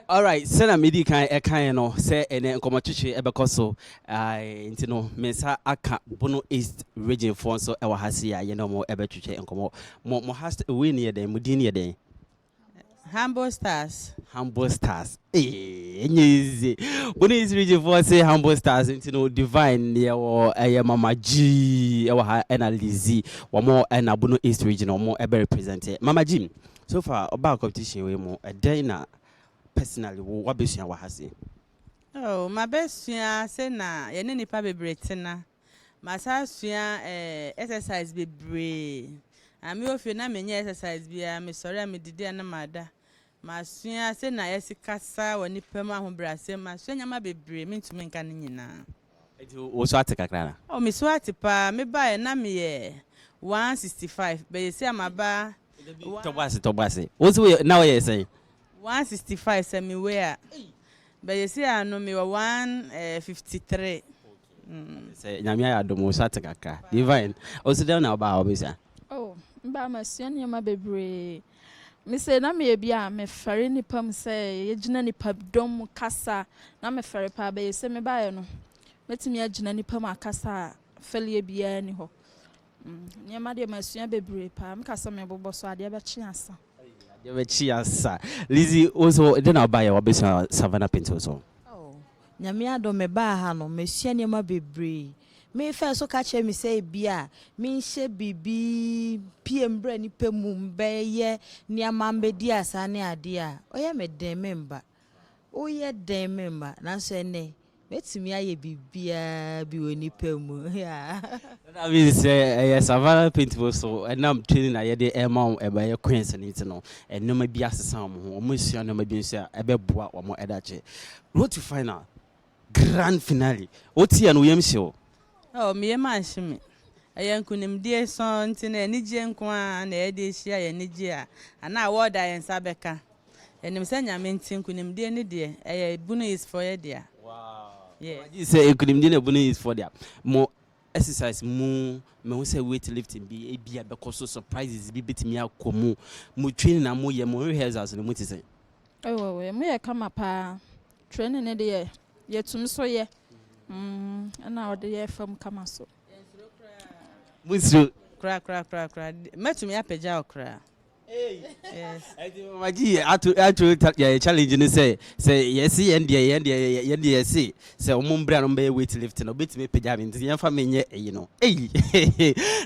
Alright, sɛnea medi kan ɛkaeɛ no sɛ ɛnɛ nkɔmmɔtwetwe ɛbɛkɔ so nti no me nsa aka Bono East region foɔ nso ɛwɔ ha sei a yɛne wɔn ɛbɛtwetwe nkɔmmɔ. Mo mo ha wei no yɛ dɛn? Mo din no yɛ dɛn? Humble Stars. Humble Stars. Ee, ɛnyɛ easy. Bono East region foɔ se Humble Stars nti no Divine deɛ wɔ ɛyɛ Mama G ɛwɔ ha ɛna Lizzy wɔn ɛna Bono East region wɔn ɛbɛ represent. Mama G, So far ɔbaa competition wei mu ɛdɛn na personally wo wabɛsua wɔ ha se? Oh mabɛsua se na yɛne nnipa bebree tena, masan asua eh exercise bebree ah me wɔ fie na me nyɛ exercise biara me sɔre a me didi a na mada, masua se na yɛse kasa wɔ nnipa mu ahobrasɛm, masua nneɛma bebree mentumi nka ne nyinaa. Enti wo so ate kakra anaa? Oh, me so ate paa, me baeɛ na me yɛ one sixty five, but seesei a ma ba one. Tɔ bɔ ase, tɔ bɔ ase, wo nso wo yɛ, na wo yɛ sɛn? One sixty five sɛ me weigh a, but seesei a no me wɔ one eh fifty three. Okay, sɛ Nyame ayɛ adom wo so ate kakra, Divine, wo nso dɛn na wo ba a ɔbɛsua? Oh, me ba masua nneɛma bebree, Me sei na meyɛ bi a mefɛre nnipa mu sɛ yɛgyina nnipa dɔm mu kasa na mefɛre paa bɛyɛ se me baeɛ no mɛtumi agyina nnipa mu akasa a fɛleɛ biara nni hɔ nneɛma deɛ masua bebree paa meka sɛ mebobɔ so adeɛ bɛkye asa adeɛ bɛkye asa Lizzy wo nso de na ɔbaeɛ wabɛsua Savannah Painting so? Oh nyame adom mebaa ha no masua nneɛma bebree Mefaa so ka kyerɛɛ me sɛ ebia menhyɛ biribi mpue mmrɛ ne pɛ mu mbɛyɛ nneɛma mbɛdi asa ne adeɛ a, ɔyɛ me den me mma. Woyɛ den me mma. Nanso ɛnnɛ, mɛtumi ayɛ biribiara bi wɔ ne pɛ mu. Yaa. So that means sɛ ɛyɛ Savannah Paintball so ɛnam training a yɛde ɛrema wɔn ɛbɛyɛ Queens no nti no, nneɛma bi asesa wɔn ho. Wɔasua nneɛma bi nso a ɛbɛboa wɔn ɛdakye. Road to final, Grand finale. Wo te a na wo yam hye wo. Oh me yam ahye me. Ɛyɛ nkunimdie sɔnn nti na anigyeɛ nko ara na yɛde rehyia yɛn anigyeɛ a anaa award a yɛn nsa bɛka. Yɛnim sɛ Nyame nti nkunimdie no deɛ ɛyɛ Bono East foɔ yɛ dea. Wow. Yes. Gye sɛ nkunimdie no yɛ Bono East foɔ dea. Mo exercise mu me ho sɛ weight lifting bi ebi a bɛkɔ so surprises bi betumi akɔ mu. Mo training a mo yɛ mo rehearsals no mu te sɛn? Oh yɛ mo yɛ kama paa. Training no deɛ yɛtumi so yɛ ɛna ɔde yɛ fam kama so. Yɛnsuro koraa. Munsuro. Koraa koraa koraa koraa mɛtumi apagya wo koraa. Yes. Ɛdi mama gyi yɛ ato ato yɛ challenge ne sɛ sɛ yɛsi yɛn deɛ yɛn deɛ yɛn deɛ yɛsi sɛ wɔn mbra no mbɛyɛ weight lift no obetumi apagya mi nti yɛn fa mi nyɛ eyi no eyi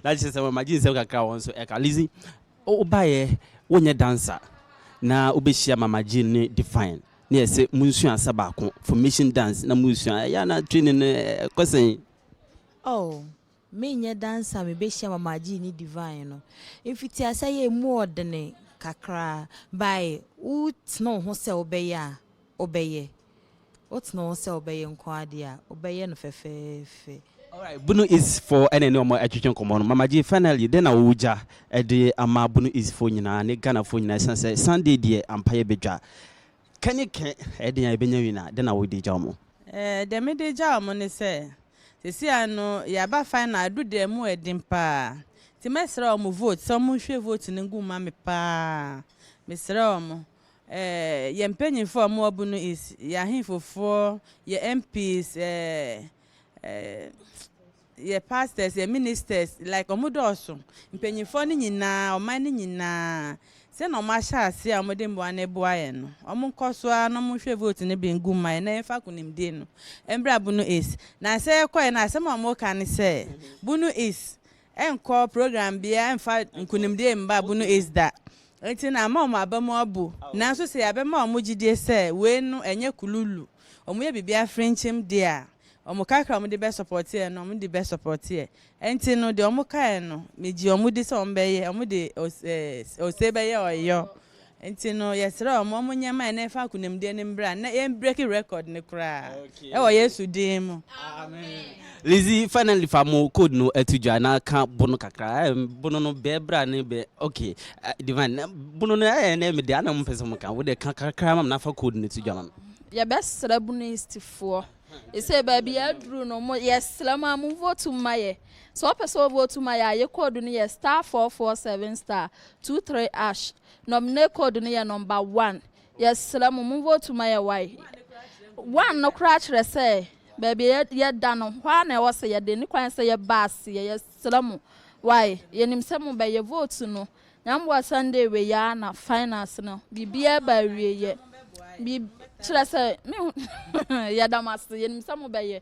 na kyerɛ sɛ mama gyi nsɛm kakra wɔn so ɛka lizi ɔba yɛ wonyɛ dancer na obehyia mama gyi ne define na ɛsɛ munsua asa baako formation dance na muresua ɛyɛ a na training no ɛkɔ sɛn? Oh, menyɛ dancer a mebehyia Mama Gee ne Divine no. Mfitiase yɛ emu ɔdene kakra by wotene wo ho sɛ wobɛyɛ a wobɛyɛ. Wotene wo ho sɛ wobɛyɛ nko ara deɛ a wobɛyɛ no fɛfɛɛfɛ. Alright Bunu East fo na ɛne wɔn ɛtwetwe nkɔmmɔ no Mama Jay finally dɛn na wo gya ɛde ama Bunu East fo nyinaa ne Ghana fo nyinaa ɛsiane sɛ Sunday deɛ ampa yɛ bɛ dwa kɛ ne kɛ ɛden a yɛ bɛ nya win a dɛn na wo de gya wɔn? Ɛɛ deɛ me de gya wɔn ne sɛ sɛsi ara no yɛ aba final adu deɛ ɛmu ɛden paa nti mɛ srɛ wɔn vote sɛ wɔn nhwie vote no ngu mma me paa me srɛ wɔn ɛɛ yɛ mpanyinfoɔ a wɔn wɔ Bunu East yɛ ahenfo foɔ yɛ MPs ɛɛ Ɛɛɛ yɛ pastors, yɛ ministers, like wɔn dɔɔso. Mpanyinfoɔ no nyinaa, ɔman no nyinaa, sɛ na wɔn ahyɛ aseɛ a wɔn de mmoa no boa yɛn no, wɔn nkɔ so ara na wɔn nhwɛ vote no bi ngu mma yɛn na yɛn fa akunimdie no mbra Bono East. Na sɛ yɛkɔ yɛ no a, asɛm a wɔn ka ne sɛ, Bono East, ɛnkɔ program biara mfa nkonimdie mma bunu aids da. Enti na ama wɔn aba mu abu. Nanso sɛ yɛabɛma wɔn gyidie sɛ wei no ɛnyɛ kululu, wɔyɛ biribi afrinkyim deɛ a, wɔn kakra a wɔde bɛsɔpɔteɛ no, wɔde bɛsɔpɔteɛ. Enti no deɛ wɔkaeɛ no, megyee wɔn di sɛ wɔbɛyɛ, wɔde ose bɛyɛ ɔyɔ. Ntsi no yɛserɛ hɔn ma wɔnyɛ ma hɛn fa akunamdie no mbra na yɛn breaki record no koraa wɔ Yesu din mu. Amen. Lizzy finally fa mo code no ɛto dwa na ka bono kakra eh, bono no bɛɛ bra ne bɛ ok eh, divine eh, bono no eh ne me de ana mo pɛ sɛ mo ka wo de ka kakra ma me na fa code no to dwa ma me. Yɛbɛsrɛ Bunoistfoɔ Ese baabi yɛaduru no mo yɛsrɛ mo a mo vote mma yɛ. Sɛ wopɛ sɛ wo vote ma yɛ a yɛ code no yɛ star four four seven star two three ash. Nominate code no yɛ number one. Yɛsrɛ mo mo vote ma yɛ wai. One no koraa kyerɛ sɛ baabi a yɛda no hɔ ara na ɛwɔ sɛ yɛde ne kwan sɛ yɛba aseɛ. Yɛsrɛ mo wai. Yɛnim sɛ mobɛyɛ vote no Nyambua Sunday wei aa na finals no biribiara ba awieyɛ biribi kyerɛ sɛ me hu yɛda mo ase yɛnim sɛ mobɛyɛ.